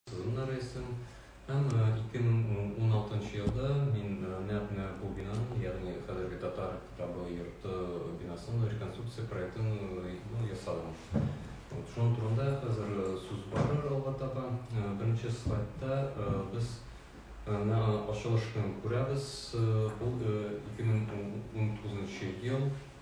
Сезонда рәисем һәм 2016 елда мин нәкъ менә бу бинаның, ягъни хәзерге Татар китабы йорты бинасының реконструкция проектын ясадым. Шуның турында хәзер сүз барыр алга таба. Беренче слайдта без менә ачылыш көнен күрәбез. Ул 2019 ел.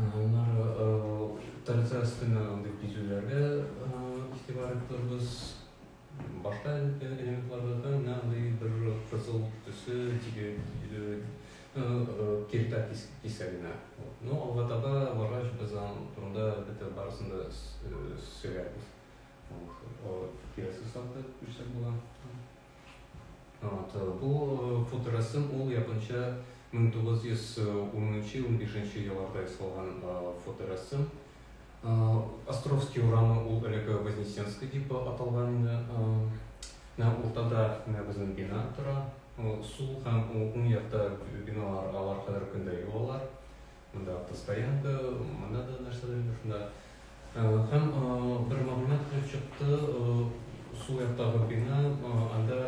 Аннары традицион спиннеринг дип бизүләргә игътибар иттербез. Башка элементларда да менә андый бер кызыл төсе киртә кисәгенә. Ну, алга таба баргач, без аның турында әлбәттә барысын да сөйләрбез. Киләсе слайдта күрсәтеп була. Вот, э, бу э, фоторәсем ул якынча 1910-15 елларда ясалган фоторәсем. Островский урамы ул элек Вознесенский дип аталган инде. Менә уртада менә безнең бина тора. Сул һәм уң якта биналар алар кадәр көндә юалар. Монда автостоянка, монда да нәрсәдер инде шунда. Һәм бер мәгълүмат килеп чыкты, сул яктагы бина, анда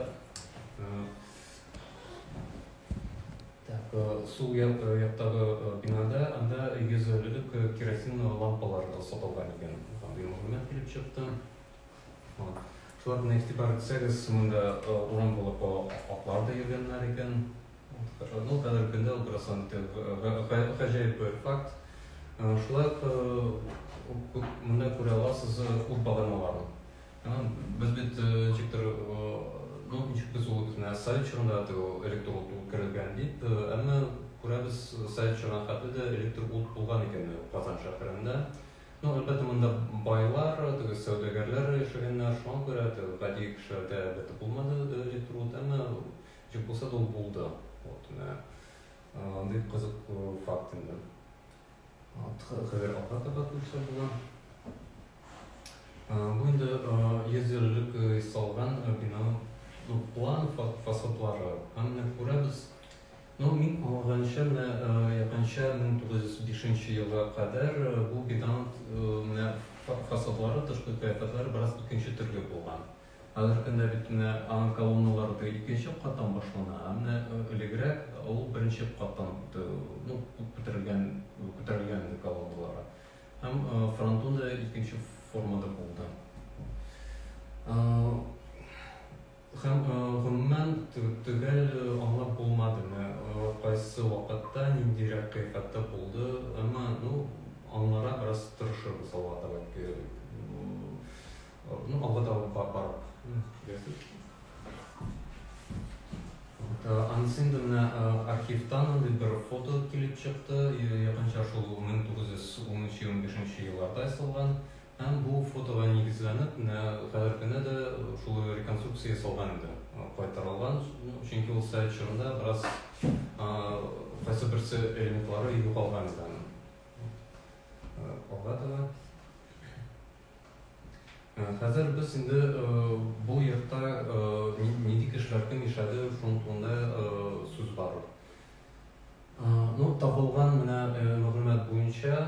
так, сул яктагы бинада анда 150 лек керосин лампалар сатылган икән. Һәм бер мәгълүмат килеп чыкты. Шуларны игътибар итсәгез, монда урам булып атлар да йөргәннәр икән. Шул кадәр көндә утырасың икән. Гаҗәеп бер факт. Шулай ук монда күрә аласыз ут баганаларын. Без бит ничектер, ну, ничек без ул икән, совет чорында да электр ут үткәрелгән дип, әмма күрәбез, совет чорына хәтле дә электр ут булган икән Казан шәһәрендә. Ну, әлбәттә, монда байлар, теге сәүдәгәрләр яшәгәннәр, шуңа күрә гади кешеләргә, әлбәттә, булмады электр ут, әмма Җеп булса да ул булды. Вот, менә андый кызык факт инде. Хәзер алга таба күрсә була. Бу инде йөз еллык салган бинаның ну, план фасадлары. Һәм менә күрәбез. Ну, мин аңлаганча, менә якынча 1905 елга кадәр бу бинаның менә фасадлары, тышкы кыяфәтләре бераз икенче төрле булган. Хәзерге көндә бит менә аның колонналары теге икенче каттан башлана, ә менә элегрәк ул беренче каттан ну, күтәрелгән, күтәрелгән иде колонналары. Һәм фронтон да икенче формада булды. Һәм гомумән төгәл аңлап булмады, кайсы вакытта, ниндирәк кыйфәттә булды, әмма ну, аңларга бераз тырышырбыз алга таба. Ну, алга да бар, бар. Анысы инде менә архивтан андый бер фото килеп чыкты, якынча шул 1913-15 елларда ясалган. Һәм бу фотога нигезләнеп, менә хәзер көне дә шул реконструкция ясалган инде, кайтарылган. Чөнки ул совет чорында бераз кайсы берсе элементлары югалган иде. Алга таба. Хәзер без инде бу йортта нинди кешеләр кем яшәде, шуның турында сүз барыр. Ну, табылган менә мәгълүмат буенча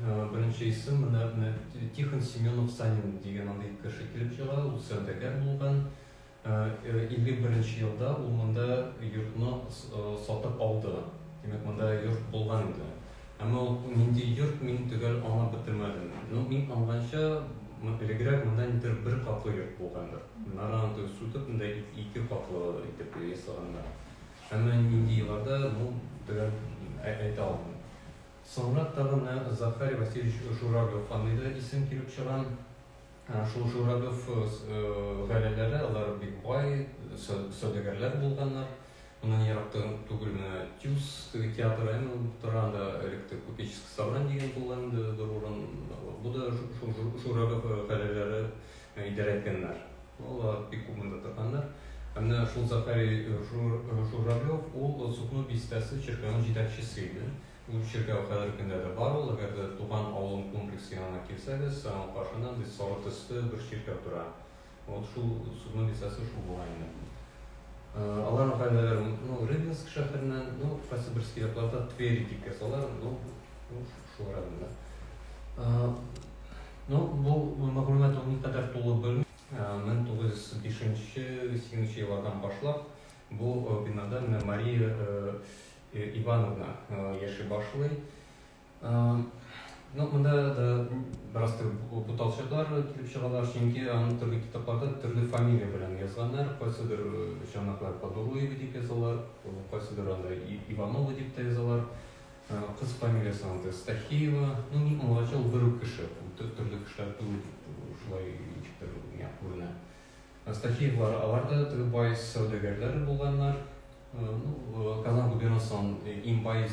беренче исем менә Тихон Семенов Санин дигән андый кеше килеп чыга, ул сәүдәгәр булган. 51-нче елда ул монда йортны сатып алды. Димәк, монда йорт булган инде. Әмма ул нинди йорт, мин төгәл аңлап бетермәдем. Ну, мин аңлганча, элегрәк монда нидер бер катлы йорт булгандыр. Нараны теге су төбендә ике катлы итеп ясаганнар. Әмма нинди елларда, ну, төгәл әйтә алмыйм. Соңрак тагын Захарий Васильевич Журавлев фамилия исем килеп чыга. Шул Журавлев гаиләләре, алар бик бай, сәүдәгәрләр булганнар. Моннан ерак түгел менә Тюз теге театры әме булып тора, анда элек тә купеческий собрание дигән булган инде бер урын. Бу да шул Журавлев гаиләләре идарә иткәннәр. Алар бик күп монда торганнар. Ә менә шул Захарий Журавлев, ул Сукно бистәсе чиркәвенең җитәкчесе иде. Ул чиркәү хәзерге көндә дә бар ул, әгәр дә Туган авылым комплексы янына килсәгез, аның каршында андый соры төсле бер чиркәү тора. Вот шул судның бистәсе шул була инде. Аларның гаиләләре ну Рыбинск шәһәреннән, ну кайсы берсе якларда Тверь дип язалар, ну шул районда. Ну бу мәгълүмат ул никадәр тулы белмим. 1905-1908 еллардан башлап бу бинада менә Мария Ивановна яши башлый. Ну, монда да бераз буталчыклар килеп чыгалар, чөнки аны төрле китапларда төрле фамилия белән язганнар. Кайсыдыр чанаклар Подолуева дип язалар, кайсыдыр анда Иванова дип тә язалар. Кыз фамилиясе анда Стахеева. Ну, ни аңлачыл бер үк кеше. Төрле кешеләр түгел, шулай ничектер миңа күренә. Астафьевлар, алар да теге бай сәүдәгәрләр булганнар. Казан губернасы аның иң бай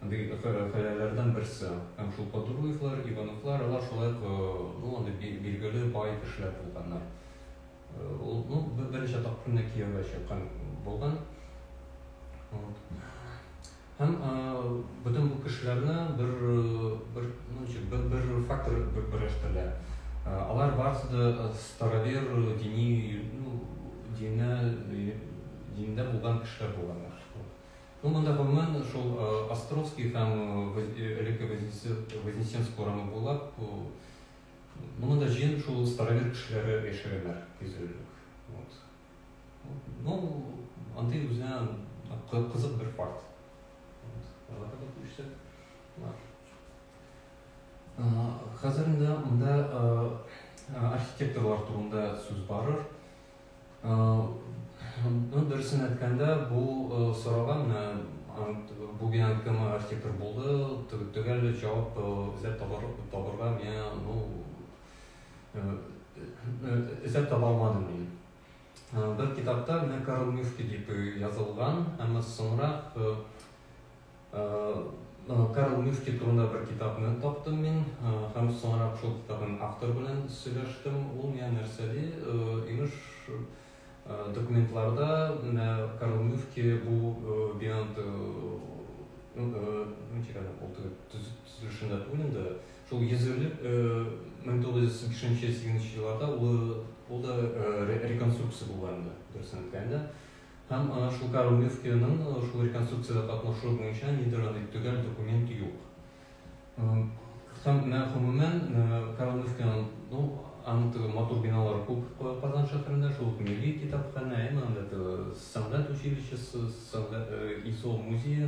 андый хәләләрдән берсе. Һәм шул Подруевлар, Ивановлар, алар шулай ук ну, андый билгеле бай кешеләр булганнар. Ул ну, берничә тапкыр кияүгә чыккан булган. Һәм бөтен бу кешеләрне бер бер ну, бер, бер фактор бер берләштерә. Алар барысы да старовер дини ну, динә диндә булган кешеләр булганнар. Ну, монда гомумән шул Островский һәм элекке Вознесенск урамы буйлап моны да җыен шул старовер кешеләре яшәгәннәр, кизүлек. Вот. Ну, андый үзенә кызык бер факт. Хәзер инде монда архитекторлар турында сүз барыр. Ну, дөресен әйткәндә, бу сорауга менә бу бинаны кем архитектор булды, төгәл җавап эзләп табарга миңа, ну, эзләп таба алмадым мин. Бер китапта менә Карл Мюшки дип язылган, әмма соңрак Карл Мюшки турында бер китапны таптым мин, һәм соңрак шул китапның автор белән сөйләштем. Ул миңа нәрсә ди, имеш, документларда менә Карл Мюшки бу биант ну, чекай, ул төзелешендә түгел инде, Шул йөзүлек 1983-78 елларда ул да реконструкция була инде, дөресен әйткәндә. Һәм шул Карл Мюфтиның шул реконструкциядә катнашуы буенча нидер андый төгәл документ юк. Һәм менә гомумән Карл Мюфтиның, ну, аның теге матур биналары күп Казан шәһәрендә, шул ук милли китапханә, әмма анда теге сәнгать училищесы, ИСО музее,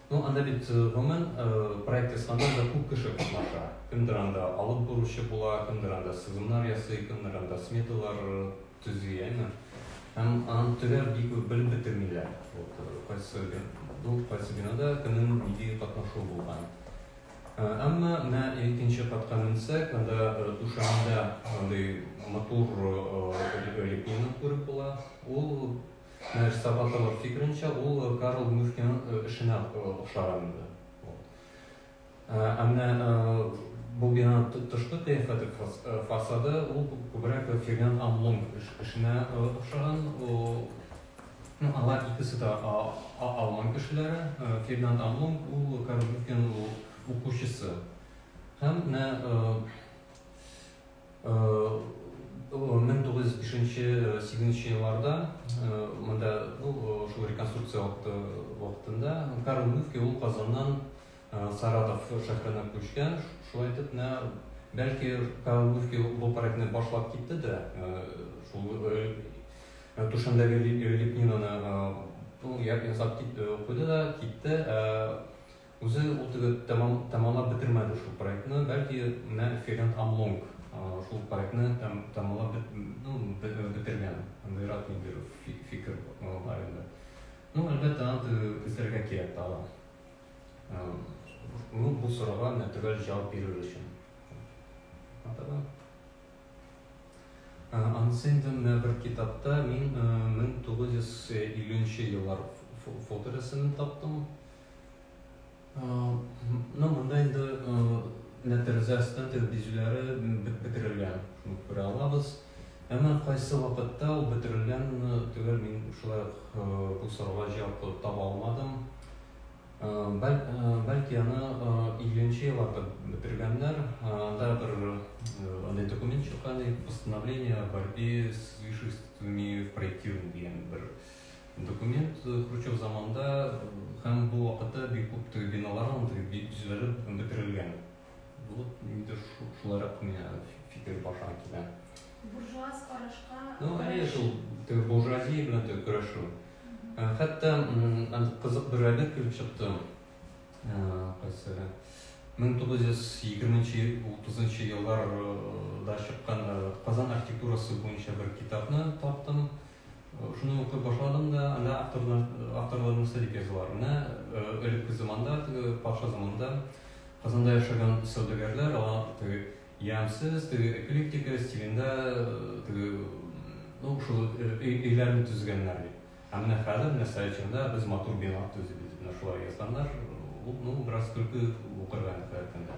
Ну анда бит гомумән проект ясаганда күп кеше катнаша. Кемдер анда алып баручы була, кемдер анда сызымнар ясый, кемнер анда сметалар төзи, әйме? Һәм анын төгәл бик үк белеп бетермиләр. Вот кайсы бу кайсы бинада кемнең нинди катнашуы булган. Әмма менә икенче катка менсәк, анда түшәмдә андый матур лепнина күреп була. Ул Менә Сабатова фикеренчә, ул Карл Мюхнинын эшенә охшаган инде. Ә менә бу бинаның тышкы кыяфәте, фасады, ул күбрәк Фердинанд Амлунг эшенә охшаган. Ну, алар икесе дә алман кешеләре. Фердинанд Амлунг, ул Карл Мюхнинын укучысы. Һәм менә Мең тугыз йөз бишенче, сигезенче елларда монда шул реконструкция вакытында Карл мөфти ул Казаннан Саратов шәһәренә күчкән. Шулай итеп, менә бәлки Карл мөфти бу проектны башлап китте дә, шул түшәмдәге лепнинаны ясап куйды да китте. Үзе ул теге тәмамлап бетермәде шул проектны, бәлки менә Ферент Амлонг шул проектны тәмамлап бетергән, андыйрак ниндидер фикер бар инде. Ну, әлбәттә, аны теге күзләргә кирәк тагын. Ну, бу сорауга менә төгәл җавап бирер өчен. Атага. Анысы инде менә бер китапта мин 1950 еллар фоторәсемен таптым. Ну, монда инде менә тәрәзә астын тергезүләре бетерелгән. Шуны күрә алабыз. Әмма кайсы вакытта ул бетерелгән түгел, мин шулай бу сорауга җавап таба алмадым. Бәлки аны 50-нче елларда бетергәннәр. Анда бер андый документ чыккан, постановление о борьбе с излишествами в проектировании дигән бер Документ Хручев заманында һәм бу вакытта бик күп теге биналар алынды, бик төзелеп бетерелгән. Бу инде шулайрак миңа фикер башка килә. Буржуаз карашка. Ну, әйе шул теге буржуазия белән теге көрәшү. Э, хәтта кызык бер әдәп килеп чыкты. Э, кайсы 1920-30 елларда чыккан Казан архитектурасы буенча бер китапны таптым. Шуны укып башладым да, анда авторлар, авторларның сәлик язуларына, элекке заманда, теге патша заманында Казанда яшәгән сәүдәгәрләр, алар теге ямсыз, теге эклектика стилендә, теге, ну, шул өйләрне төзегәннәр бит. Ә менә хәзер, менә Саячында без матур бина төзибез, менә шулай язганнар, ну, бераз көлке укырга инде хәзерге көндә.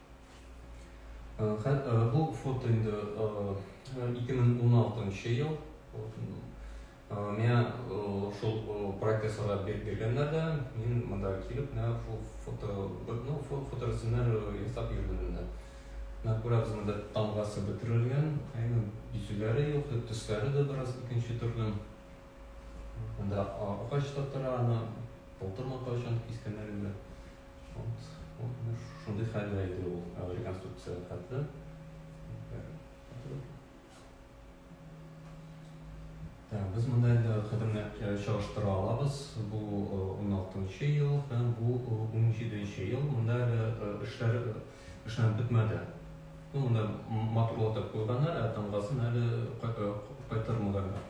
Бу фото инде 2016 ел. Меня шул проектка сорап биргәннәр дә, мин монда килеп, менә шул фото, ну, фото рәсемнәр ясап йөрдем инде. Менә күрәбез, монда тамгасы бөтерелгән, әйе, бизүләре юк, төсләре дә бераз икенче төрле. Монда агач та тора, аны былтырмы, кайчан кискәннәр инде. Вот, вот менә шундый хәлдә иде ул ә, реконструкция хәтле. Ә, без монда инде хәтемне ә, чагыштыра алабыз. Бу 16 э, ел һәм бу 17 э, ел. Монда әле э, эшләр эшләнеп бетмәде. Ну, монда матурлатып куйганнар, ә тамгасын әле кайтармаганнар.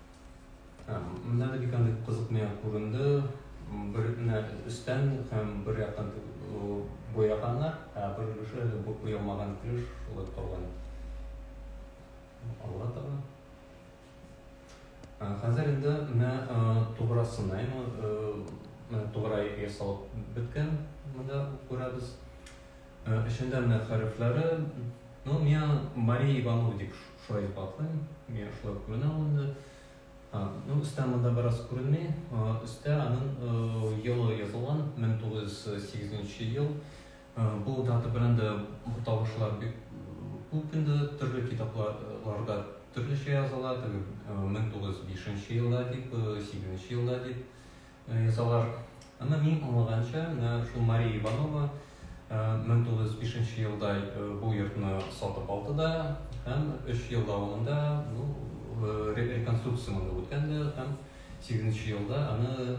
Менә дә бик андый кызык миңа күренде. Бер менә өстән һәм бер яктан буяганнар, ә бер өлеше бу буялмаган өлеш шулай калган. Алга таба. Хәзер инде менә туграсына, менә туграй ясалып беткән, монда күрәбез. Эчендә менә хәрефләре, ну, миңа Мария Иванова дип Шулай дип атлыйм. Мин шулай ук менә ул инде. Ну, өстә монда бераз күренми. Өстә аның елы язылган, 1908 ел. Бу дата белән дә буталышлар бик күп инде. Төрле китапларда төрлечә языла. 1905 елда дип, 8 елда дип. Язалар. Әмма мин аңлаганча, менә шул Мария Иванова 1905 елда бу йортны сатып алды да һәм 3 ел дәвамында ну, реконструкция монда үткән дә һәм 8 елда аны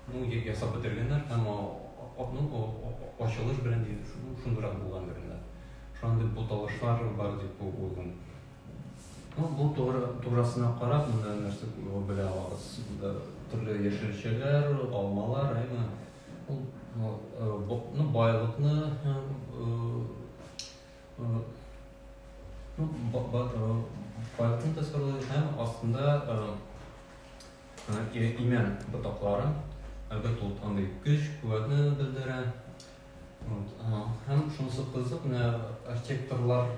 ну, ясап бетергәннәр һәм ну, ачылыш белән шундурак булгандыр инде. Шундый буталышлар бар дип уйлыйм. Ну, бу тугры, туграсына карап, монда нәрсә белә алабыз. Монда төрле яшелчәләр, алмалар, әйме. Ул ну, э, байлыкны э, э, ну, байлыкны тасвирлый һәм астында имән ботаклары, әлбәттә, ул андый көч, куәтне белдерә. Һәм шунысы кызык, менә архитекторлар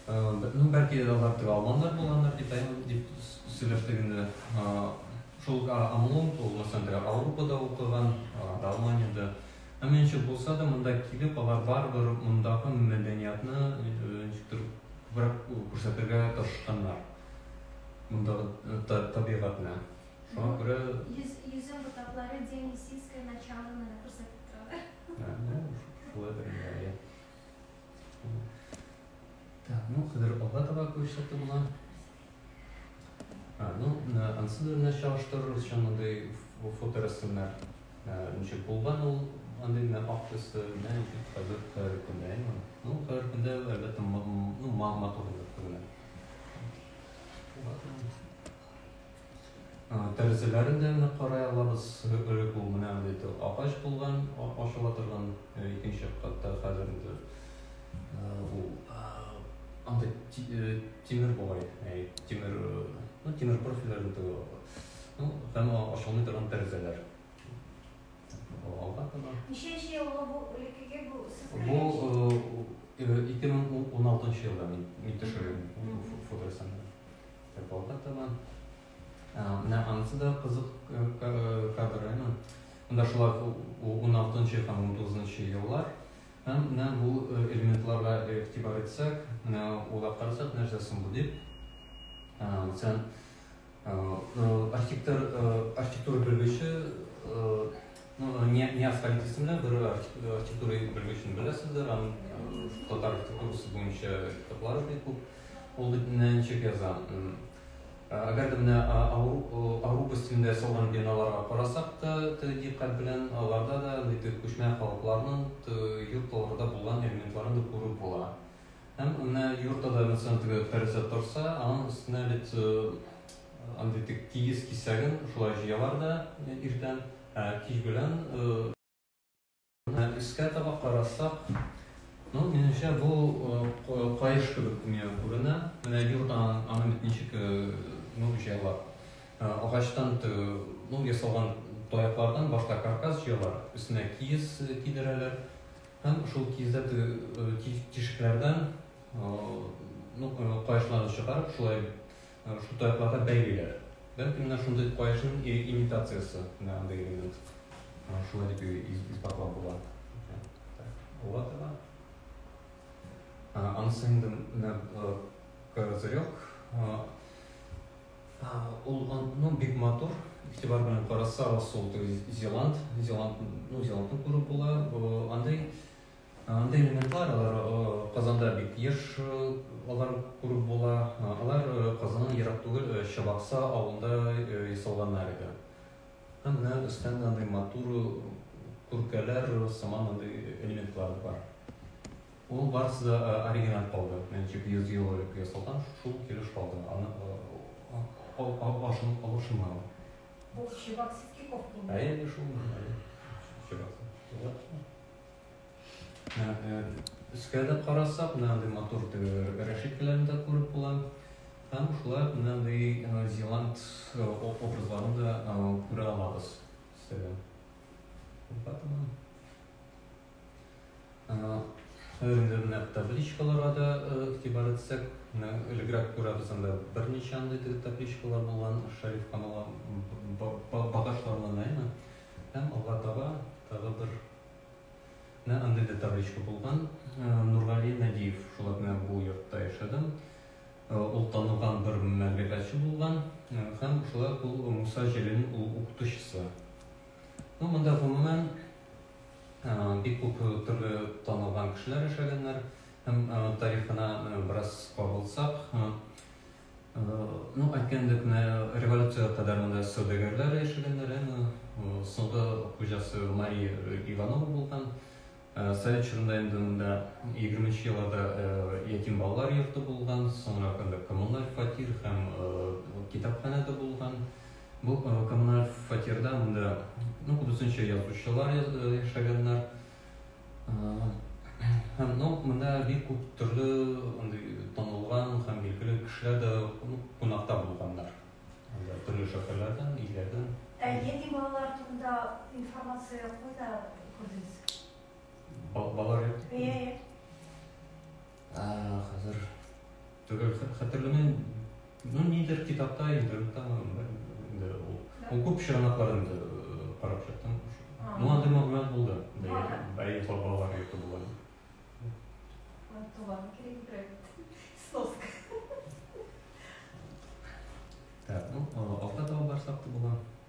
Ну, бәлки дә алар теге алманнар булганнар, китайны дип сөйләштек инде. Шул Амлон ул Лос-Андре Аурупада укыган, анда Алманиядә. Әмма ничек булса да, монда килеп, алар барыбер мондагы мәдәниятны ничектер күбрәк күрсәтергә тырышканнар. Мондагы табигатьне. Шуңа күрә... Йөзем ботаклары День Лисицкой началоны күрсәтеп торалар. Шулайдыр инде, әйе. Так, ну, хәзер алга таба күрсәтте була. А, ну, ансы белән чагыштырырбыз чын мондый фоторәсемнәр. Ничек булган ул андый менә ак төсе, менә ничек хәзер хәзерге көндә, әйме? Ну, хәзерге көндә әлбәттә, ну, матур булып күренә. Тәрәзәләрен дә менә карай алабыз. Элек ул менә андый агач булган, ачыла торган икенче катта хәзер инде ул андый тимер бугай, тимер, ну, тимер профильләр инде ул. Ну, һәм ачылмый торган тәрәзәләр. Алга таба. Ничәнче елгы бу элеккеге бу сез кергән? Бу 2016 елда мин төшергән фоторәсемне. Рыбалка тема. Менә анысы да кызык кадр, әйме? Монда шулай 16-нчы һәм 19-нчы еллар. Һәм менә бу элементларга игътибар итсәк, менә уйлап карасак, нәрсә соң бу дип. Мәсәлән, архитектор архитектура белгече Неаскалик исемле бер архитектура белгечне беләсездер, аның татар архитектурасы буенча китаплары бик күп. Ул бит менә ничек яза. Әгәр дә менә Аврупа стилендә ясалган биналарга карасак та, дикъкать белән аларда да андый күчмә халыкларның йортларда булган элементларын да күреп була. Һәм менә йортта да мәсәлән теге тәрәзә торса, аның өстенә бит Андый бик тигез кисәген шулай җыялар да иртән, ә кич белән. Өскә таба карасак, ну, минемчә, бу каеш кебек миңа күренә. Менә йорт аны бит ничек, ну, җыялар. Агачтан ясалган таяклардан башта каркас җыялар, өстенә киез кидерәләр һәм шул киездә тишекләрдән, ну, каешларны чыгарып, шулай Шул таякларга бәйлиләр. Бәлки менә шундый каешның имитациясе, менә андый элемент. Шулай дип исбатлап була. Була да. Анысы инде менә козырек. Ул ну бик матур. Игътибар белән караса, ул Зеланд, Зеланд, ну Зеландны күреп була. Андый Андый элементлар, алар Казанда бик еш алар күреп була. Алар Казаннан ерак түгел Чабакса авылында ясалганнар иде. Һәм менә өстән дә андый матур күркәләр сыман андый элементлар бар. Ул барысы да оригиналь калды. Ничек 100 ел элек ясалган, шул килеш калды. Аны ашын алышынмаган. Бу Чабаксский ков булмы? Әйе, әйе, шул. Чабакса. Өскә дә карасак, менә андый матур рәшәткәләрне дә күреп була. Һәм шулай ук менә андый зеланд образларын да күрә алабыз. Сәлам. Хәзерге менә табличкаларга да игътибар итсәк, менә элегрәк күрәбез анда берничә андый табличкалар булган шәриф канала багашларына, әйме? Һәм алга таба тагы бер Менә андый да табличка булган. Нургали Надиев, шулап менә бу йортта яшәдем. Ул танылган бер мәмләкәтче булган һәм шулай ул Муса Җәлилнең ул укытучысы. Ну, монда гомумән бик күп төрле танылган кешеләр яшәгәннәр һәм тарихына бераз кагылсак, Ну, әйткән идек, менә революция кадәр монда сәүдәгәрләр яшәгәннәр, әмма соңгы хуҗасы Мария Иванова булган. Совет чорында инде монда 20 нче елларда ятим балалар йорты булган, соңрак анда коммуналь фатир һәм китапханә дә булган. Бу коммуналь фатирда монда, ну, күбесенчә язучылар яшәгәннәр. Һәм, ну, монда бик күп төрле андый танылган һәм билгеле кешеләр дә кунакта булганнар. Анда төрле шәһәрләрдән, илләрдән. Ә нинди балалар турында информация кайда күрдегез? Балалар йорты? Иә, иә. Хәзер түгел хәтерләмим. Ну, нидер китапта, интернетта инде ул. Ул күп чыганаклар инде карап чыктым. Ну, андый мәгълүмат булды. Бәй, бабалар йорты булган. Туган кирәк бирәк. Сноска. Так, ну, авто табарсак та була.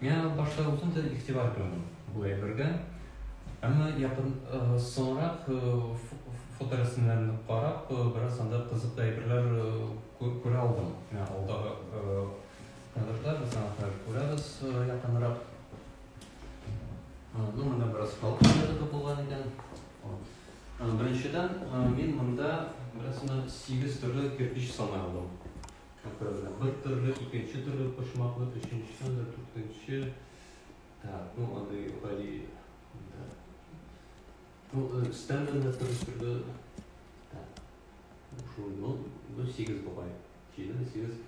Миңа башта үзем дә игътибар бирмәдем бу әйбергә, әмма якын соңрак фоторәсемнәрне карап, бераз анда кызыклы әйберләр күрә алдым. Менә алдагы кадрда без аны хәзер күрәбез якынрак. Ну, монда бераз халык кадәре дә булган икән. Беренчедән, мин монда бераз сигез төрле кирпич саный алдым. Капрызлы. Бер төрле, икенче төрле почмаклы, өченче анда, дүртенче. Так, ну, андый гади, да. Ну, өстән дә төрле-төрле. Так. Ну, шул, ну, ну, сигез бугай. Җиде, сигез.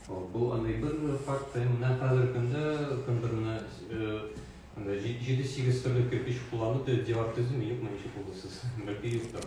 О, бу андый бер факт, менә хәзер көндә кемдер менә анда җиде-сигез төрле кирпич кулланды, дивар төземи, юкмы, ничек булды сез? Бәлки юктыр.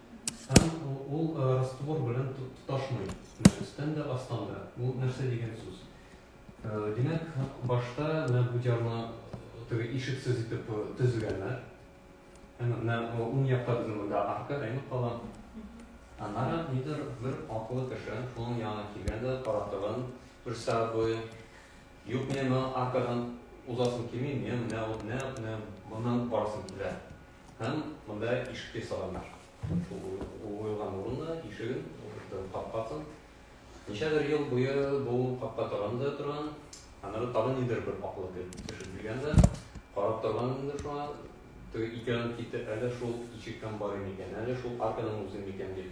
Һәм ул раствор белән тоташмый, өстән дә, астан да. Бу нәрсә дигән сүз? Димәк, башта менә бу диарны теге ишексез итеп төзегәннәр. Әмма менә уң якта безнең монда арка әйләнеп кала. Аннары нидер бер акыллы кеше шуның янына килгән дә каратыгын күрсәтә буе. Юк, мин аркадан узасым килми, мин менә менә моннан барасым килә. Һәм монда ишеккә салганнар. Шул уелган урында ишеген, капкасын. Ничәдер ел буе бу капка тагын да торган. Аннары тагын нидер бер аклы килеп төшеп килгән дә, карап торган инде шуңа, теге икәүләнеп китте, әллә шул ишектән барыйм икән, әллә шул аркадан узыйм икән дип.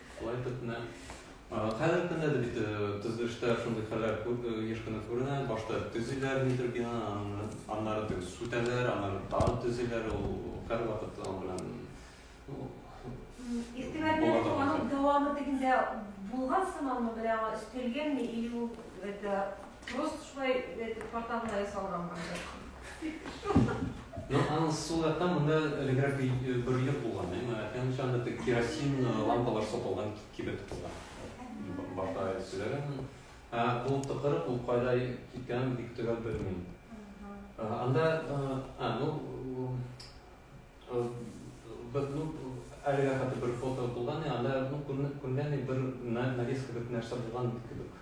Шулай итеп менә хәзерге көндә дә бит төзелештә шундый хәлләр еш кына күренә. Башта төзиләр нидер бинаны, аннары тегы сүтәләр, аннары тагы төзиләр. Ул һәрвакыт аның белән Игътибар бирү аның дәвамы тегендә булган сыманмы, берәүгә өстәлгәнме или ул бер дә Просто шулай итеп порталга ясалган бардыр. Ну, аның сул якта монда элегрәк бер йорт булган, әмма әкренчә анда тек керосин лампалар сатылган кибет булган. Башта сөйләгән. Бу тыкырык ул кайда киткән бик төгәл белмим. Анда, а, ну, бер ну әлегә хәтле бер фото булган, анда ну күргән бер нәрсә булган кебек.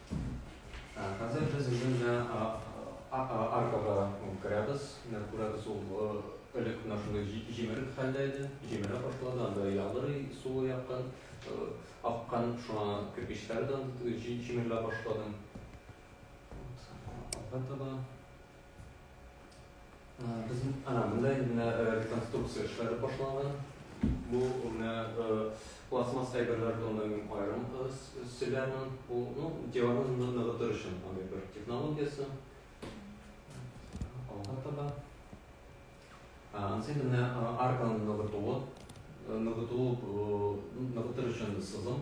Хәзер без инде менә аркага керәбез. Менә күрәбез, ул элек менә шундый җимерек хәлдә иде, җимерә башлады, анда ялырый, суы яктан аккан, шуңа кирпечләр дә җимерелә башлады. Алга таба Без ана монда инде реконструкция эшләре башланган. Бу менә пластмасс әйберләр тонын аерым сөйләмен. Бу ну диварны ныгытыр өчен андый бер технологиясе. Алга таба. Ансы менә арканы ныгытуы, ныгыту ныгытыр өчен сызым.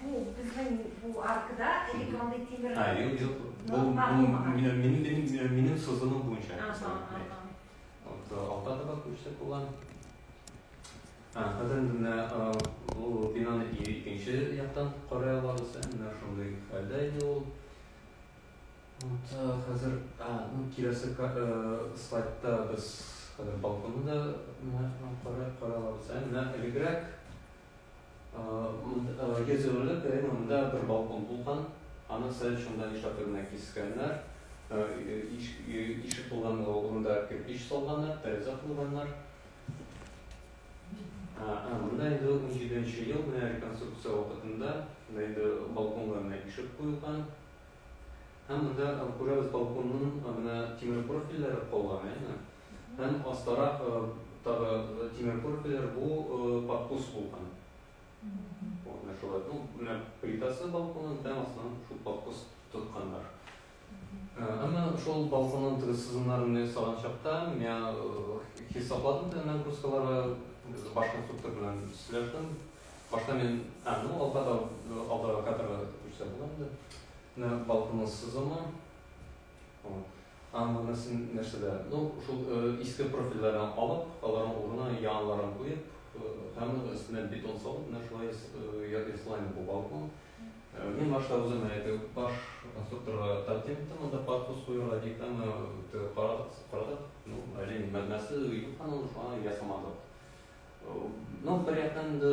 Бу безнең бу аркада элек мондый тимер. А, юк, юк. Бу минем минем минем сызымым буенча. Вот алта таба күчтә булган. А, хәзер менә бу бинаны икенче яктан карый алабыз. Менә шундый хәлдә иде ул. Вот хәзер, а, ну киләсе слайдта без хәзер балконны да карый алабыз. Менә элегрәк Гезерле кырын монда бер балкон булган, аны сәл шунда нишләптер генә кискәннәр, ишек булган урында кирпич салганнар, тәрәзә куйганнар. Монда инде унҗиденче ел, менә реконструкция вакытында инде балконга менә ишек куелган. Һәм монда күрәбез балконның менә тимер профильләре калган, әйеме? Һәм астарак тагы тимер көрпәләр, бу подкус булган. Вот, менә шулай. Ну, менә плитасы балконның тәм астынан шул подкус тотканнар. Әмма шул балконның теге сызымнарын ясаган чакта, миңа хисапладым да нагрузкалары башка структура белән сөйләштем. Башта мин, а, ну, алда да, алда кадрга күрсәтелгән иде. Менә балконның сызымы. Вот. Һәм монысын нәрсәдә, ну, шул иске профильләрдән алып, аларның урынына яңаларын куеп, һәм өстенә бетон салып, менә шулай ясалган бу балкон. Мин башта үзем әйтү, баш конструкторга тәкъдим иттем, анда подкус куярга дип, әмма карадык, карадык, ну, әле мәгънәсе юк, аны шулай ясамадык. Ну, бер яктан инде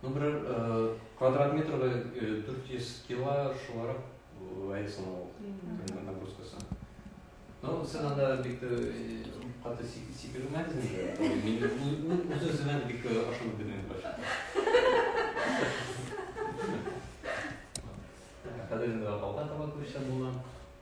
Ну, берәр квадрат метрга 400 кило шуларак әйсен ул. Нагрузкасы. Ну, сен анда бик тә каты сикермәдез инде. Мин үземә бик ашынып бирдем баш. Хәзер инде алга таба күчәм булам.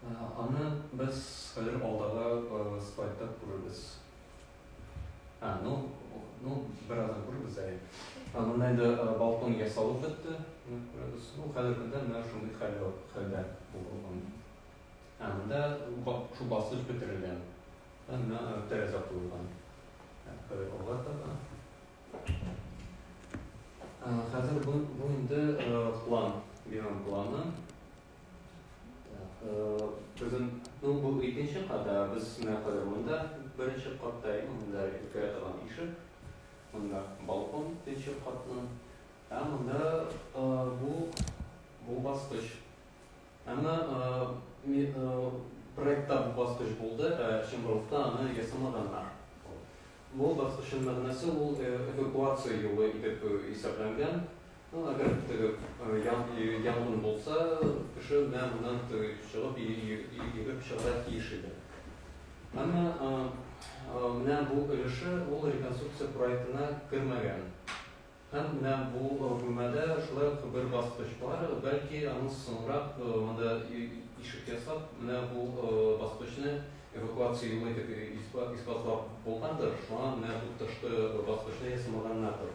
Аны без хәзер алдагы слайдта күрербез. А, ну, ну, бераздан күрербез әле. Монда инде балкон ясалып бетте. Күрәбез. Ну, хәзер көндә менә шундый хәлдә хәлдә булган. Ә монда шул басыш бетерелгән. Менә тәрәзә куелган. Хәзер алга таба. Хәзер бу, бу инде план, бинам планы. Безнең ну, бу икенче кат, без менә кадәр монда беренче катта иде, монда өлкә торган ишек, монда балкон икенче катның, ә монда бу бу баскыч. Әмма проектта бу баскыч булды, ә Чембровта аны ясамаганнар. Бу баскычның мәгънәсе ул эвакуация юлы итеп исәпләнгән, Әгәр теге янгын булса, кеше менә моннан чыгып, йөгереп чыгарга тиеш иде. Әмма менә бу өлеше ул реконструкция проектына кермәгән. Һәм менә бу бүлмәдә шулай ук бер баскыч бар, бәлки аның соңрак монда ишек ясап, менә бу баскычны эвакуация юлы итеп исбатлап булгандыр, шуңа менә бу тышкы баскычны ясамаганнардыр.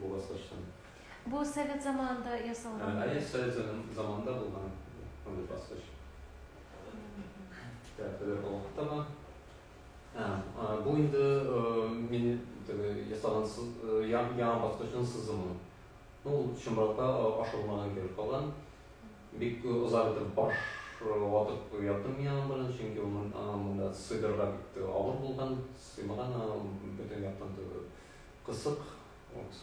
була сачлан. Бу совет заманында ясалган. Әйе, совет заманында булган мондый баскыч. Тәрәфләр алып тама. Бу инде мин теге ясалган яңа баскычның сызымы. Ну, чынбарда ашылмаган кебек калган. Бик озак итеп баш ватып яттым мин аның белән, чөнки монда сыйдырырга бик авыр булган, сыймаган бөтен яктан түгел. Кысык вот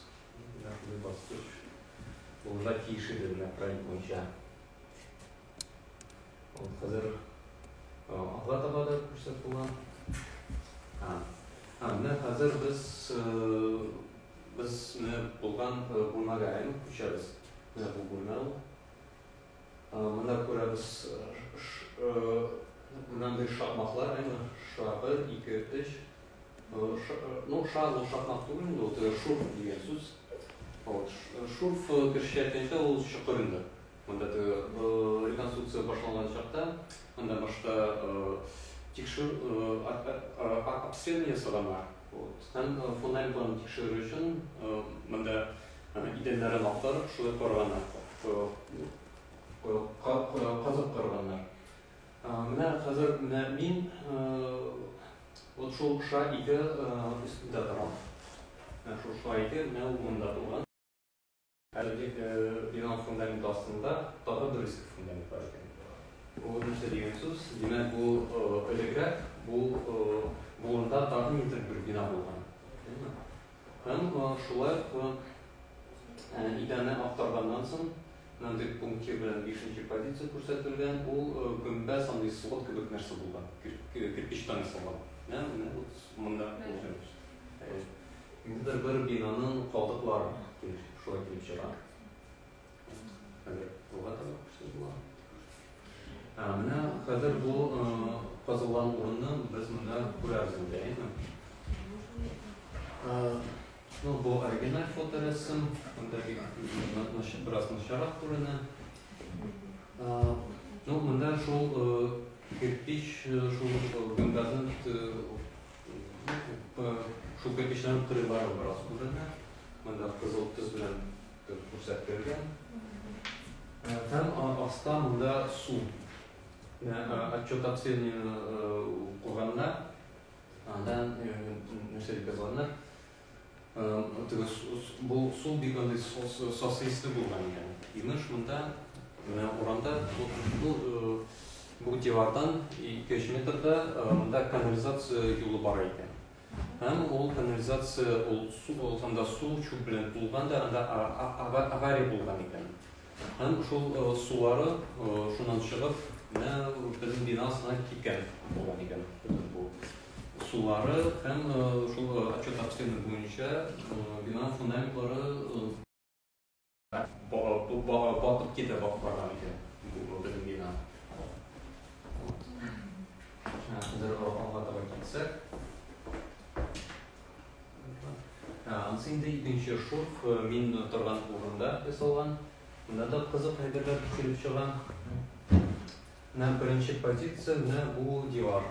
нәкъ баскыч булырга тиеш иде менә проект буенча. Вот хәзер алга таба да күрсәт була. Һәм менә хәзер без без менә булган бүлмәгә әйләнеп күчәбез. Менә бу бүлмә ул. Монда күрәбез мондый шакмаклар, әйме, ша, бер, ике, өч. Ну, ша, ну, шакмак түгел инде, вот э, шурф дигән сүз. Вот, шурф кешечә әйткәндә ул чокыр инде. Монда реконструкция башланган чакта, монда башта тикшерү обследование ясаганнар. Вот. Һәм фональбаны тикшерү өчен монда Аны идәннәрен актарып, шулай корганнар. Казып корганнар. Менә хәзер менә мин вот шул ша ике өстендә торам. Менә шул ша ике менә ул монда булган. Әлеге бинаның фундаменты астында тагы бер иске фундамент бар икән. Бу нәрсә дигән сүз? Димәк, бу элегрәк, бу болында тагы нидер бер бина булган. Һәм шулай ук идәне актарганнан соң, мондый пунктир белән бишенче позиция күрсәтелгән, ул гөмбәз андый свод кебек нәрсә булган, кирпичтан ясалган. Менә менә вот монда булганбыз. Ниндидер бер бинаның калдыклары шулай килеп чыга. Хәзер кулга табак күрсәтеп була. Менә хәзер бу казылган урынны без монда күрәбез инде, әйме? Ну, бу оригиналь фоторәсем, монда бик бераз начарак күренә. Ну, монда шул кирпич, шул гөмбәзен шул кирпичнең кырыйлары бераз күренә. Монда кызыл төс белән Күрсәтелгән. Һәм аста монда су. Отчет обследованиены укыганда, анда нәрсә дип язганнар? Бу су бик андый сасыйсы булган икән. Имеш, монда менә урамда бу дивардан 2-3 метрда монда канализация юлы бар икән. Һәм ул канализация, ул су, ул анда су, чүп белән тулган да, анда авария булган икән. Һәм шул сулары шуннан чыгып, менә безнең бина астына киткән булган икән. Бөтен бу сулары һәм шул отчет обследование буенча бина фундаментлары Батып китә батып барган икән. Бу безнең бина. Хәзер алга таба китсәк. Анысы инде икенче шурф э, мин торган урында ясалган. Монда да кызык әйберләр төшереп чыга. На беренче позиция менә бу дивар.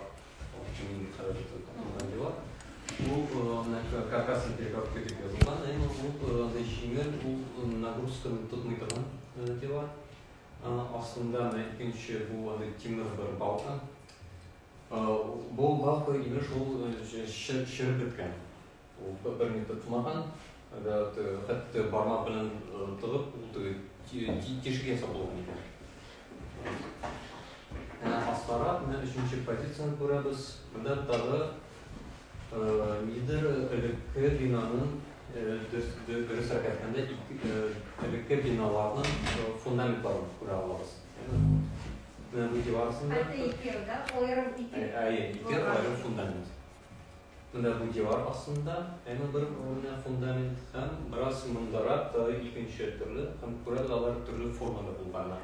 Мин хәзер тотылган дивар. Бу э, каркас перегородка дип язылган, әмма бу э, анда җиңел, ул нагрузканы тотмый торган э, дивар. Астында менә икенче бу анда тимер бер балка. Бу балка имеш ул чырып беткән. Ул бер-береңне тотмаган, хәтта бармак белән тыгып, ул теге тишек ясап булган икән. Менә астарак, менә өченче позицияне күрәбез. Монда тагы нидер элекке бинаның дөрес рәкәтендә элекке биналарның фундаментларын күрә алабыз. Менә бу дивар астында. Хәтта ике елда аерым итеп. Әйе, ике аерым фундамент. Менә бу дивар астында әнә бер урында фундамент һәм бераз мондарак тагы икенче төрле һәм күрә дә алар төрле формада булганнар.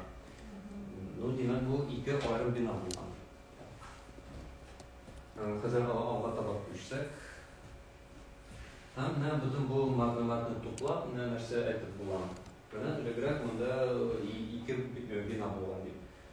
Ну, димәк, бу ике аерым бина булган. Хәзер алга таба күчсәк. Һәм менә бөтен бу мәгълүматны туплап, менә нәрсә әйтеп була. Менә элегрәк монда ике бина булган дип.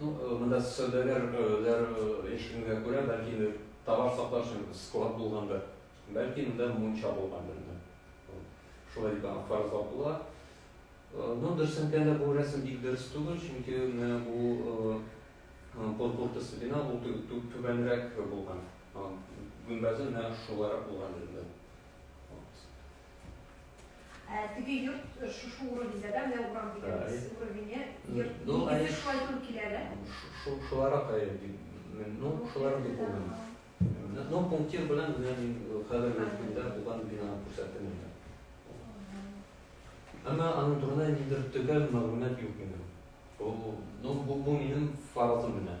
Ну, монда сәүдәгәр ләр ишегенә күрә, бәлки товар саклар өчен склад булгандыр. Бәлки монда мунча булгандыр. Шулай дип аңа фаразлап була. Ну, дөрес әйткәндә, бу рәсем бик дөрес түгел, чөнки менә бу полпортасы бина ул түбәнрәк булган. Гөмбәзе менә шуларак булган инде. Ә теге йорт э, шушы уровеньда, да, менә урам дигәнебез уровене, йорт, ну, нигезе шулай туры килә, да? Шуларак, ну, шуларак дип булмый. Ну, пунктир белән менә мин э, хәзерге көндә булган бинаны күрсәттем инде. Әмма аның турында ниндидер төгәл мәгълүмат юк минем. Ул, ну, бу, бу минем фаразым гына.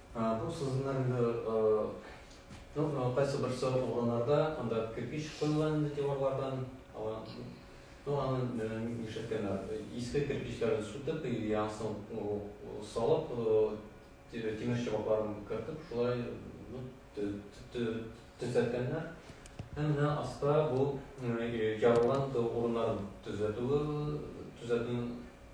Бу сызымнар инде кайсы берсе угланарда, анда кирпич куелган инде диварлардан, аны нишләткәннәр, иске кирпечләрен сүтеп, яңасын салып, тимер чыбыкларын кертеп, шулай төзәткәннәр. Һәм менә аста бу ярылган урыннарын төзәтү, төзәтү.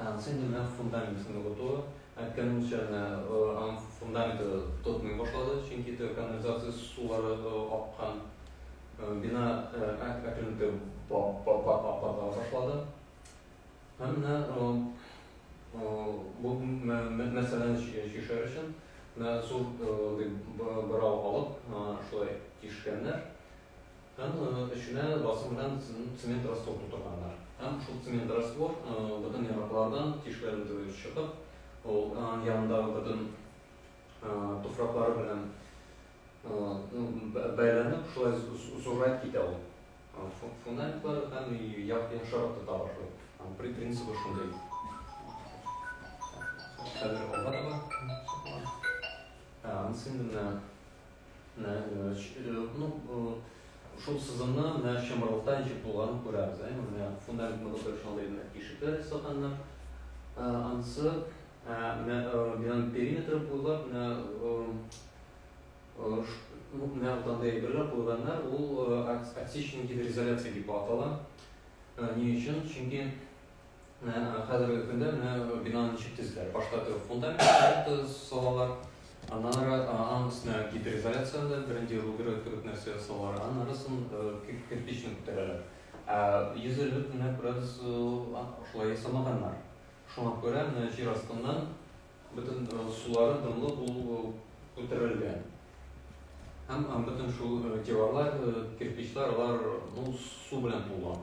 Станция нәкъ фундаментын ныгыту әйткән мунчаны аның фундаменты тотмый башлады, чөнки канализация сулары аккан. Бина әкренлекле патла башлады. Һәм менә бу мәсьәләне чишәр өчен зур бырау алып, шулай тишкәннәр. Һәм эченә басым белән цемент раствор тутырганнар. Һәм шул цемент раствор бөтен яраклардан тишләрен түгеп чыгып, ул янындагы бөтен туфраклары белән бәйләнеп, шулай зуррак китә ул. Фуналиклар һәм яхшырак тота башлый. Принцибы шундый. Хәзер алга таба. Анысы инде менә. Ну, шул сызымны менә чымырлыкта ничек булганын күрәбез. Әйме, менә фундаментны бутырып шалдый менә тишекләр ясаганнар. Ансы, менә бинаның периметры буйлап менә менә андый әйберләр куйганнар, ул отсечный гидроизоляция дип атала. Ни өчен? Чөнки Менә хәзерге көндә менә бинаны ничек төзиләр? Башта торып фундамент салалар, аннан ары аның өстенә гидроизоляцияны, беренче руберы кебек нәрсә салалар, аннан арысын кирпичне күтәрәләр. Ә йөз эле менә күрәбез, шулай ясамаганнар. Шуңа күрә менә җир астыннан бөтен сулары дымлы булып күтәрелгән. Һәм бөтен шул диварлар, кирпичлар, алар ну, су белән тулган.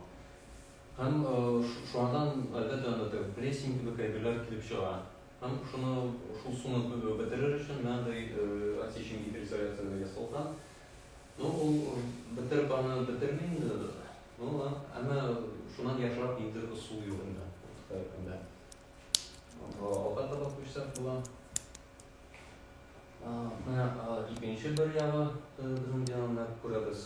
Һәм шуңардан гаилә дәүләте, прессинг кебек әйберләр килеп чыга. Һәм шуны, шул суны бетерер өчен менә андый отсечен гидроизоляцияләр ясалган. Ну, ул бетереп аны бетерми инде. Ну, әмма шуннан яхшырак ниндидер ысул юк инде. Һәркемдә. Алга таба күчсәк була. Менә икенче бер ягы безнең дигәнне күрәбез.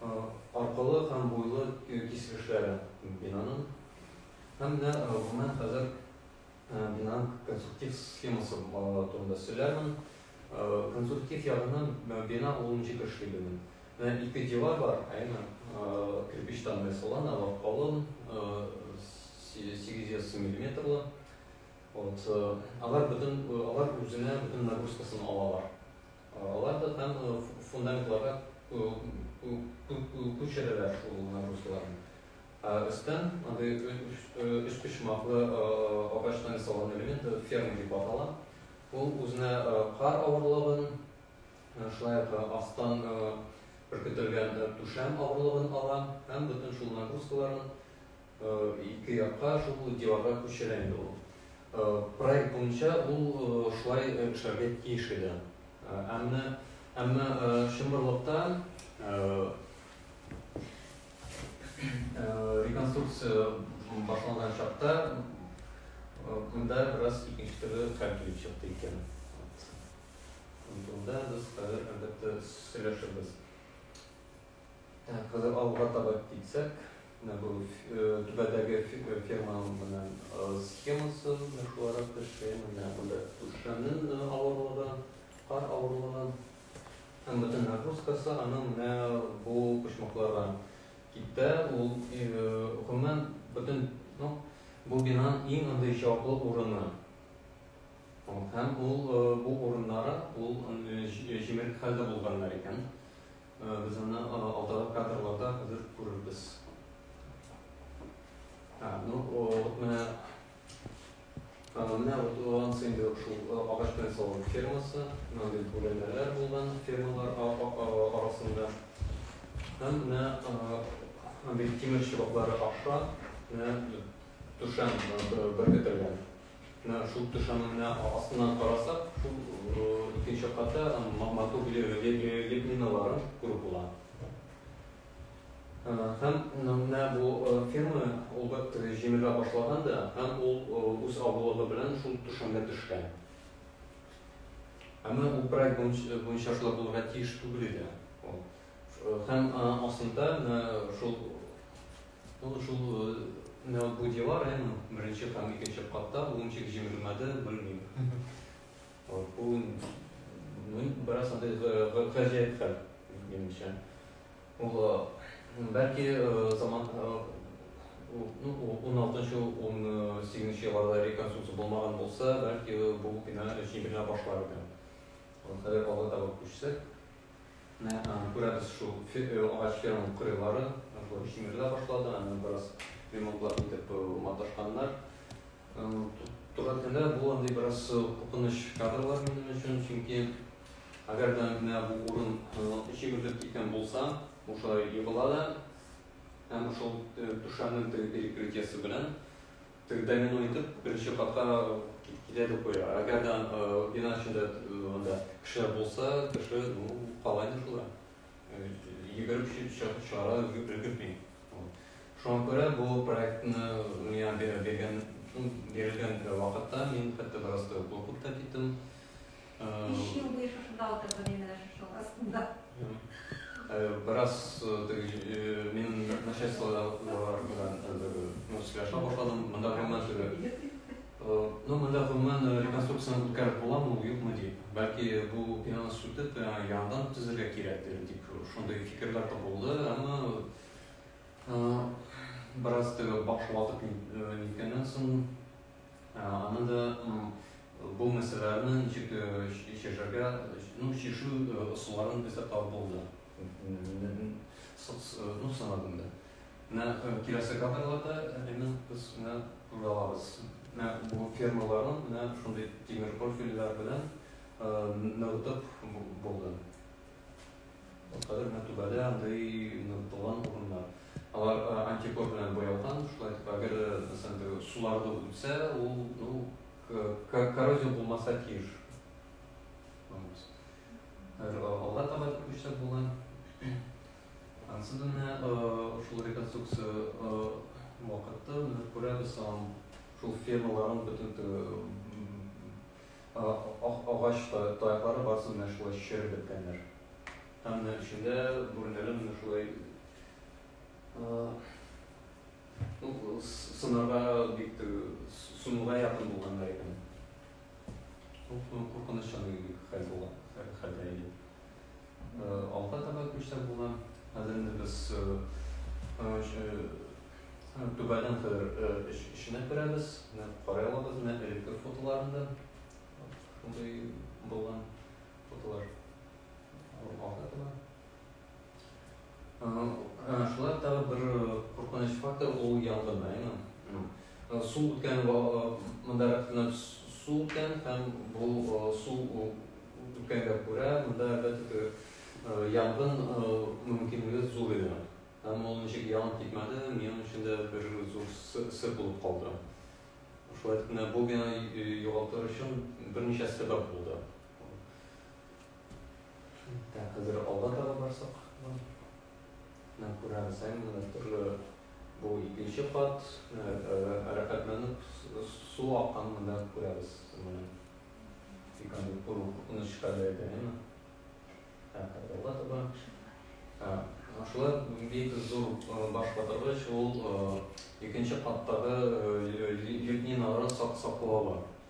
аркылы һәм буйлы киселешләре бинаның һәм дә гомумән хәзер бинаның конструктив схемасы турында сөйләрмен. Конструктив ягыннан бина ул ничек эшли белмим. Менә ике дивар бар, әйме, кирпичтан ясалган, алар калын, 800 миллиметрлы. Вот, алар бөтен, алар үзенә бөтен нагрузкасын алалар. Алар да там фундаментларга күчерәләр шул нагрузкаларны. Ә өстән андый өчпочмаклы агачтан ясалган элемент ферма дип атала. Ул үзенә кар авырлыгын, шулай ук астан өркетелгән түшәм авырлыгын ала һәм бөтен шул нагрузкаларын Ике якка шул диварга күчерә инде ул. Проект буенча ул шулай эшләргә тиеш иде. Әмма чынбарлыкта реконструкция башланган чакта монда бераз икенче төрле хәл килеп чыкты икән. Ул турыда без хәзер, әлбәттә, сөйләшербез. Так, хәзер алга таба китсәк, менә бу түбәдәге ферманың менә схемасы, менә шуларак төшкән, менә монда түшәмнең авырлыгы, кар авырлыгы һәм бөтен нагрузкасы аның менә бу почмакларга китә. Ул гомумән бөтен ну, бу бинаның иң андый җаваплы урыны. Һәм ул бу урыннары ул җимерек хәлдә булганнар икән. Без аны алдагы кадрларда хәзер күрербез. Ә, ну, вот менә менә вот улан инде шул агач белән салган фермасы, мондый бүләнәләр булган фермалар арасында. Һәм менә бит тимер чыбыклары аша, менә түшәм беркетелгән. Менә шул түшәмнең менә астыннан карасак, шул икенче катта матур лепнинолар күреп була. Һәм менә бу ферма ул бер җимерә башлаган да, һәм ул үз авылыгы белән шул түшәмгә төшкән. Әмма ул проект буенча шулай булырга тиеш түгел иде. Һәм астында шул Ну, шул э, бу дела район беренче һәм икенче катта ул ничек җимерелмәде, белмим. Вот, бу ну, бераз андый гаҗәеп хәл, минемчә. Ул э, бәлки э, заман ну, 16-нчы, 18-нче елларда реконструкция булмаган булса, бәлки бу бина җимерелә башлар иде. Хәзер алга таба күчсәк, Менә күрәбез шул агач ферма кырыйлары җимерелә башлады, аны бераз ремонтлап итеп маташканнар. Туры теле бу андый бераз куркыныч кадрлар минем өчен, чөнки әгәр дә менә бу урын җимерелеп киткән булса, бу шулай егыла да һәм шул түшәмнең теге перекрытиесе белән Теге домино итеп беренче катка китә дип куя. Әгәр дә бина эчендә анда кешеләр булса, кеше ну кала инде шулай. Йөгереп чыгып чыгара өлгерми. Шуңа күрә бу проектны миңа биргән бирелгән вакытта мин хәтта бераз куркып та киттем. Биш ел буе шушында утырдым мин менә шушының астында. Бераз мин начальстволар белән сөйләшә башладым. Монда гомумән теге. Ну, монда гомумән реконструкцияне үткәреп буламы, юкмы дип. Бәлки бу бинаны сүтеп, яңадан төзергә кирәктер дип шундый фикерләр дә булды, әмма бераз теге баш ватып ниткәннән соң Аны да бу мәсьәләләрне ничек чишәргә, ну, чишү ысулларын без дә табып булды. Ну, санадым да. Менә киләсе кадрларда әнине без менә күрә алабыз. Менә бу фермаларны менә шундый тимер профильләр белән ныгытып булды. Кадәр мәртәбәле андый ныгытылган урыннар. Алар антикор белән буялган, шулай итеп, әгәр мәсәлән суларда үтсә, ул ну, коррозия булмаса тиеш. Алга таба күчсәк була. Ансын менә шул реконструкция вакытта күрәбез, шул фермаларның бөтен Ак агач таяклары барысы менә шулай череп беткәннәр. Һәм менә эчендә бүрәнәләр менә шулай сынарга бик суынуга якын булганнар икән. Бу куркыныч чагы иде, хәл булган хәлдә иде. Алга таба күчсәк була. Хәзер инде без түбәдән хәзер эш эченә керәбез. Карый алабыз менә электр фотоларында. Шундый булган фотолар. Алга таба. Шулай тагы бер куркыныч фактор ул янгын районы. Су үткән монда рәхәтләнеп су үткән һәм бу су үткәнгә күрә монда әлбәттә янгын мөмкинлеге зур иде. Һәм ул ничек янып китмәде, минем өчен дә бер зур сыр булып калды. Шулай итеп, бу бинаны югалтыр өчен берничә сәбәп булды. Ә хәзер алга таба барсак, менә күрәбез, әмма төрле бу икенче кат рәхәтләнеп су аккан монда күрәбез. Менә бик андый куркыныч хәлдә иде, әмма рәхәт алга таба. Шулай бик зур баш ватыргыч ул икенче каттагы лепнинага сак саклава.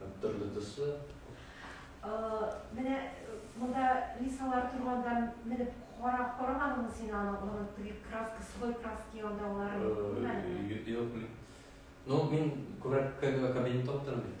Һәм төрле төсле. Менә монда Лисалар торганда менеп карап карамадыңмы син аны, аның теге краска, сухой краска янында алар күрмәдеңме? Юк, мин. Ну, мин күбрәк кабинетта утырам бит.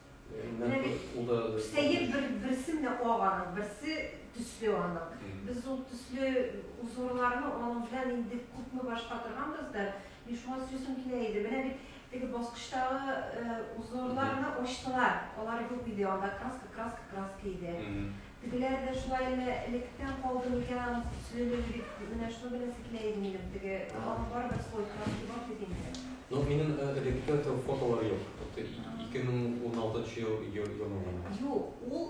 Менә бит, сәер бер, берсе менә ак аның, берсе төсле аның. Без ул төсле узгырларны аның белән инде күпме башка торганбыз да, мин шуңа сүзем килә иде. Менә бит теге баскычтагы узгырларны ачтылар, алар юк иде, анда краска, краска, краска иде. Тегеләр дә шулай әллә электән калды микән аның төслелеге дип менә шуны беләсе килә иде минем, теге аны барыбер слой краски бар бит инде. Ну минем элекке фотолар юк, тукты, 2016 нчы ел елның гына. Юк, ул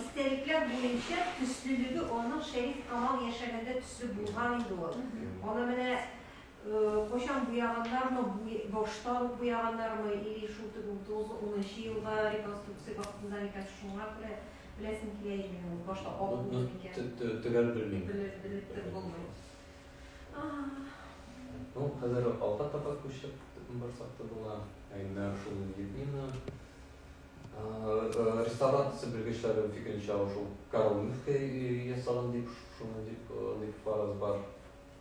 истәлекләр буенча төслелеге аның Шәриф Камал яшәгәндә төсле булган иде ул, аны менә. Кайчан буяганнармы, башта ук буяганнармы, или шул теге 30-ы 10 нчы елда реконструкция вакытында микән, шуңа күрә беләсем килә иде мин ул башта ак булды микән. Төгәл белмим. Белеп тә булмый. Ну, хәзер алга таба күчеп барсак та була. Әмма шул Людмила реставрация белгечләре фикеренчә шул Карл Мюфке ясаган дип, шуны дип, дип фараз бар.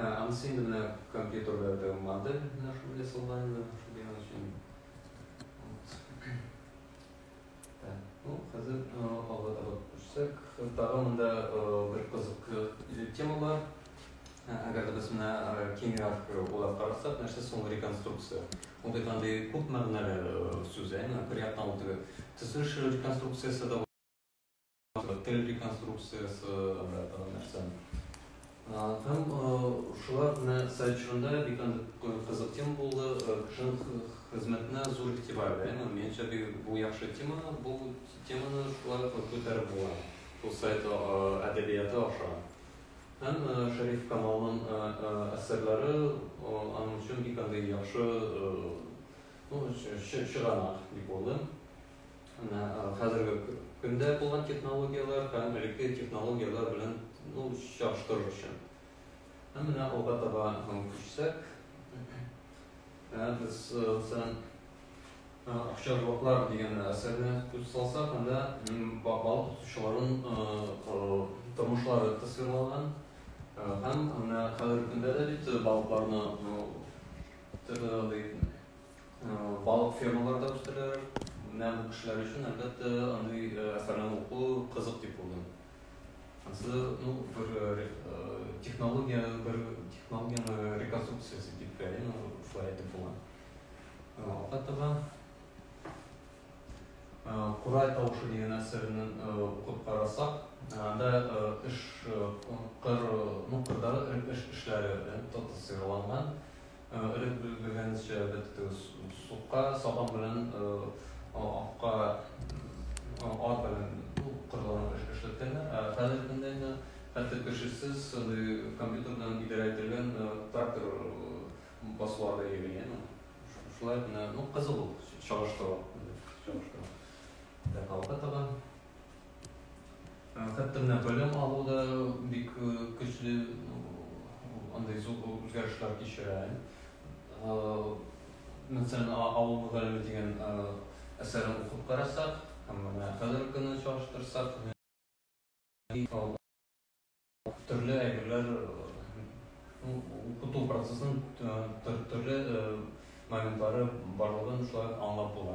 Анысы инде менә компьютерда теге модель менә шул ясалган инде шул дигән өчен. Так, ну, хәзер алга таба күрсәк, тагын монда бер кызык тема бар. Әгәр дә без менә киңрәк уйлап карасак, нәрсә соң реконструкция? Ул бит андый күп мәгънәле сүз, әйме? Бер яктан ул теге төзелеш реконструкциясе дә Тел реконструкциясе обратного нәрсә. Һәм шулар менә сайт чорында бик кызык тема булды. Кешенең хезмәтенә зур игътибар бирә. Минемчә, бу яхшы тема. Бу теманы шулай күтәреп була. Бу сайт әдәбияты аша. Һәм Шәриф Камалның әсәрләре аның өчен бик яхшы чыганак дип уйлыйм. Менә хәзерге көндә булган технологияләр һәм элекке технологияләр белән ну, чагыштырыр өчен. Һәм менә алга таба күчсәк, без сән акча блоклар дигән әсәрне күз салсак, анда балык тотучыларын тормышлары тасвирланган һәм менә хәзерге көндә дә бит балыкларны төрле Балык фермалары да үстерәләр. Менә бу кешеләр өчен, әлбәттә, андый әсәрне уку кызык дип уйлыйм. Ансы, ну, бер технология, бер технологияне реконструкциясе дип бәялим, шулай әйтеп була. Алкатова Курай тавышы дигән әсәрне укып карасак, анда эш кыр, ну, кырдагы эш эшләре татыйсыйраланган. Өреп биргәнегезчә беттегез. Сукка сабан белән акка ат белән коралланып эш эшләткәннәр. Ә хәзер көндә инде хәтта кешесез шундый компьютер белән идарә ителгән трактор басулар да йөри. Әйеме? Шулай гына, ну, кызык ул чагыштыру. Чагыштыру. Так, алга таба. Хәтта менә белем алу да бик көчле андый зур үзгәрешләр кичерә. Мәсәлән, авыл мөгаллиме дигән әсәрен укып карасак, һәм менә хәзерге көнне чагыштырсак, Төрле әйберләр укыту процессын төрле моментлары барлыгын шулай аңлап була.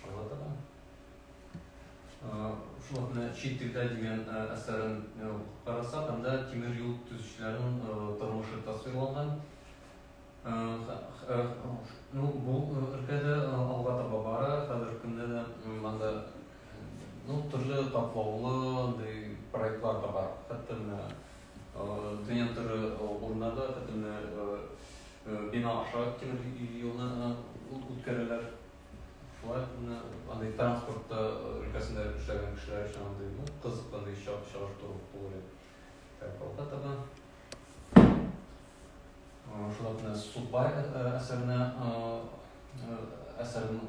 Шул хакында чит телдә дигән әсәрен карасак, анда тимер юл төзүчеләрнең тормышы тасвирланган. Ну, бу өлкә дә алга таба бара. Хәзерге көндә дә анда ну, төрле катлаулы андый проектлар да бар. Хәтта менә дөнья төрле урыннарда, хәтта менә бина аша тимер юлны үткәрәләр. Шулай ук менә андый транспорт өлкәсендә эшләгән кешеләр өчен андый ну, кызыклы чагыштыру булыр иде. Так, алга таба. Шунда менә Сукбай әсәренә әсәрен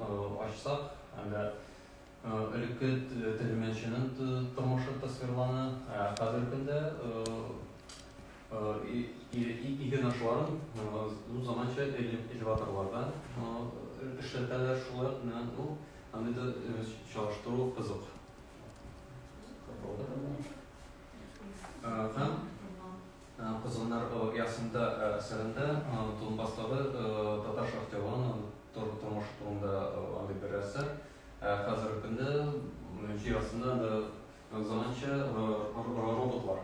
ачсак, әле элекке тегермәнченең тормышы тасвирлана, ә хәзерге көндә иген ашларын зур заманча элеваторларда эшләтәләр, шулай ук менә бу андый да чагыштыру кызык. Һәм Козгыннар оясында әсәрендә Донбасстагы татар шахтерларының тормышы турында андый бер әсәр. Ә хәзерге көндә җир астында анда заманча роботлар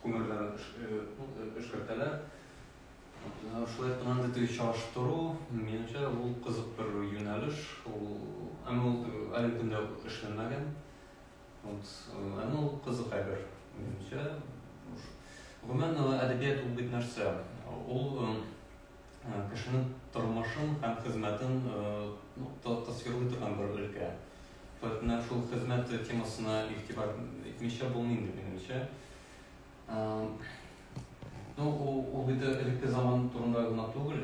күмерләр эшкәртәләр. Шулай итеп андый теге чагыштыру, минемчә, ул кызык бер юнәлеш. Ул, әмма ул әлеге көндә эшләнмәгән. Вот, э, ну, кызык әйбер, минемчә. Гомумән, э, әдәбият ул бит нәрсә? Ул э, кешенең тормышын һәм хезмәтен ну, тасвирлый торган бер өлкә. Поэтому шул хезмәт темасына игътибар итмичә булмый инде, минемчә. Ну, ул бит элекке заман турында гына түгел.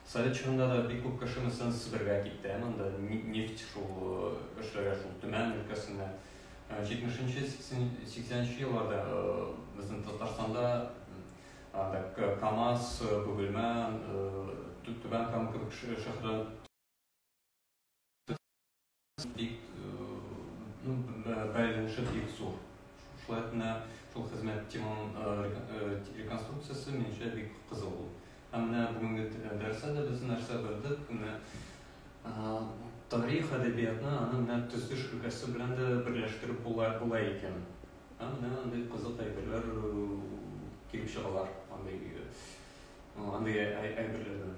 Совет чорында да бик күп кеше мәсәлән Себергә китте, ә монда нефть шул эшләргә шул Төмән өлкәсенә. 70-нче 80-нче елларда безнең Татарстанда КАМАЗ, Бөгелмә, Түбән Кама кебек шәһәрләр Бик ну, бәйләнеше бик зур. Шулай кына шул хезмәт теманың реконструкциясе минемчә бик кызыл ул. Һәм менә бүгенге дәрестә дә без нәрсә белдек, менә тарих әдәбиятны аны менә төзелеш өлкәсе белән дә берләштереп була, була икән. Һәм менә андый кызык әйберләр килеп чыгалар, андый андый әйберләрдән.